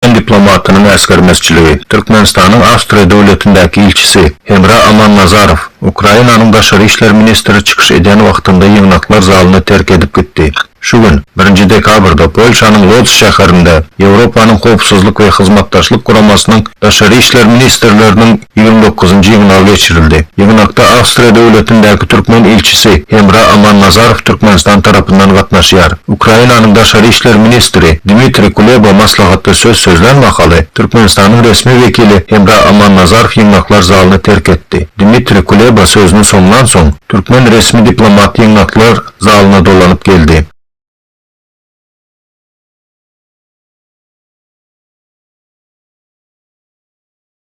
Türkmen diplomatynyň äsgermezçiligi, Türkmenistanyň Awstriýa döwletindäki ilçisi Hemra Amannazarow Ukrainanyň daşary işler ministri çykyş edýän wagtynda ýygnaklar zalyny terk edip gitdi. Şu gün, birinji dekabrda Polşanyň Lodz şäherinde Ýewropanyň Howpsuzlyk we Hyzmatdaşlyk Guramasynyň daşary işler ministrleriniň, ýigrimi dokuzynjy ýygnagy geçirildi. Ýygnakda Awstriýa döwletindäki türkmen ilçisi Hemra Amannazarow Türkmenistan tarapyndan gatnaşýar. Ukrainanyň daşary işler ministri Dmitriý Kuleba maslahatda söz sözlän mahaly, Türkmenistanyň resmi wekili Hemra Amannazarow ýygnaklar zalyny terk etdi. Dmitriý Kuleba sözüni soňlan soň, türkmen resmi diplomaty ýygnaklar zalyna dolanyp geldi.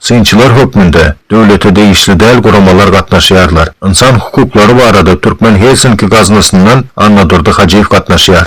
Synçylar hökmünde döwlete degişli däl guramalar gatnaşýarlar. Ynsan hukuklary barada türkmen Helsinki gaznasyndan Annadurdy Hajyýew gatnaşýar.